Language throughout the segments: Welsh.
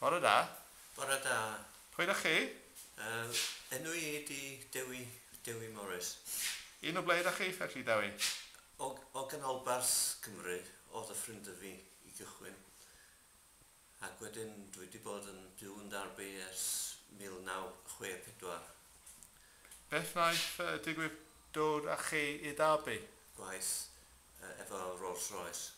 Bore da. Bore da. Pwy dach chi? Yy, enw i ydi Dewi, Dewi Morris. Un o ble dach chi felly, Dewi? O, o Ganolbarth Cymru oedd y ffrind da fi i gychwyn. Ac wedyn dwi wedi bod yn byw yn Derby ers 1964. Beth wnaeth yy digwydd dod â chi i Derby? Gwaith yy efo Rolls Royce.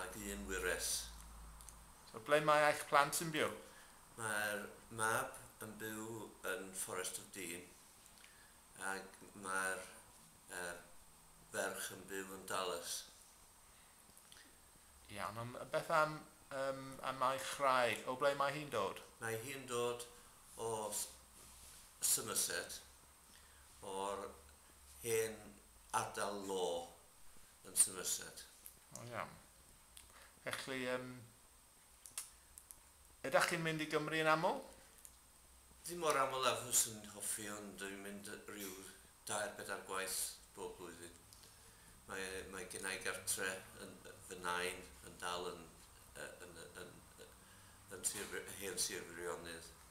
ag un wyres. So ble mae eich plant yn byw? Mae'r mab yn byw yn Fforest of Dean ag mae'r er ferch yn byw yn Dallas. Iawn, ond beth am yym am eich chraig? O ble mae hi'n dod? Mae hi'n dod o Somerset, o'r hen ardal law yn Somerset. O iawn. Felly, um, ydych chi'n mynd i Gymru yn aml? Ddim mor aml â fyswn i'n hoffi, ond dwi'n mynd rhyw dair bedair gwaith bob blwyddyn. Mae, mae gen i gartre yn fy nain yn dal yn, yn, yn, yn, yn sir, hen sir Firionydd.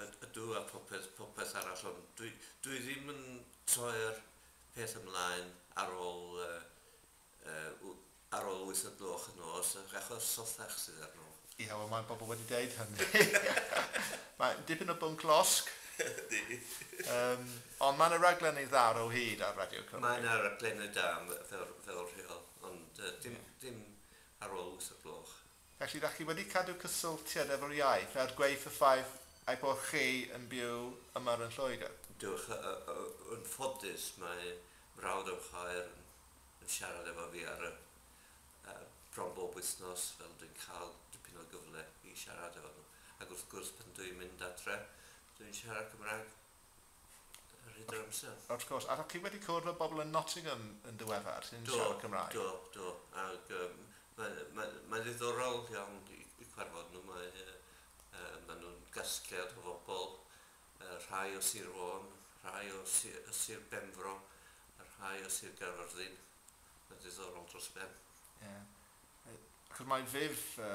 Yd- ydw, a phopeth, popeth arall, ond dwi, dwi ddim yn troi'r peth ymlaen ar ôl, yy, yy, w- ar ôl wyth o'r gloch y nos, yy, achos sothach sydd arno. Ie, wel mae bobl wedi deud hynny. Mae dipyn o bwnc losg. Ydy. Yym, ond mae 'na raglenni dda ar o hyd ar Radio Cymru. Mae 'na raglenni da, m- fel, fel rheol, ond, yy, dim, dim ar ôl wyth o'r gloch. Felly, dach chi wedi cadw cysylltiad efo'r iaith, er gwaeth y ffaith ei bod chi yn byw yma yn Lloegr? Do, yn ffodus mae mrawd yn chwaer yn siarad efo fi ar y bron bob wythnos fel dwi'n cael dipyn o gyfle i siarad efo nhw. Ac wrth gwrs pan dwi'n mynd adre dwi'n siarad Cymraeg. Rhydd yr amser. Wrth gwrs. A chi wedi cwrdd â bobl yn Nottingham yn ddiweddar sy'n siarad Cymraeg? Do, do, do. Ac yym mae mae mae'n ddiddorol iawn i i cwarfod nhw. Mae yy yy maen nhw'n gasgliad o fobl, yy rhai o Sir Fôn, rhai o si- yy Sir Benfro, a rhai o Sir Gaerfyrddin. Mae'n ddiddorol dros ben. Ie. Yy achos mae Viv yy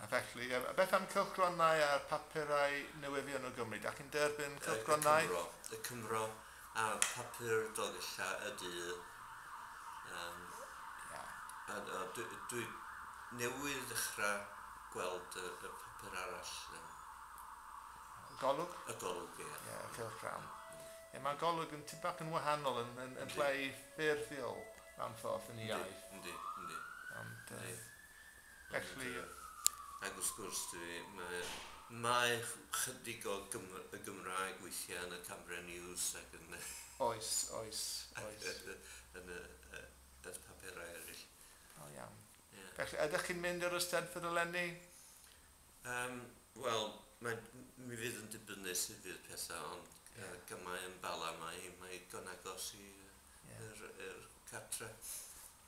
A felly, beth am cylchgronau a'r papurau newyddion o Gymru? Dach chi'n derbyn cylchgronau? Y Cymro. Y Cymro a Papur Dolgella y du. Um, yeah. a, a dwi, dwi newydd ddechrau gweld y, y papur arall. Um, y golwg? Y golwg, ie. Yeah. Yeah, cylchgrawn. Mm. Yeah, mae golwg yn tipyn bach yn wahanol yn, yn, yn llai ffurfiol am ffordd yn iaith. Yndi, yndi. Ond, uh, Felly... Ac wrth gwrs, dw i, mae, mae 'chydig o Gym- y Gymraeg weithiau yn y Cambrian News ac yn y... Oes, oes, oes. Ac yn, yn y, y paperau eraill. Da iawn. Ie. Felly, ydych chi'n mynd i'r Eisteddfod eleni? Yym, wel, mae, m- mi fydd yn dibynnu sut fydd pethau, ond Ie. yy gamau yn Bala, mae, mae hi'n ddigon agos i yy... Ie. ...i'r, i'r cartre.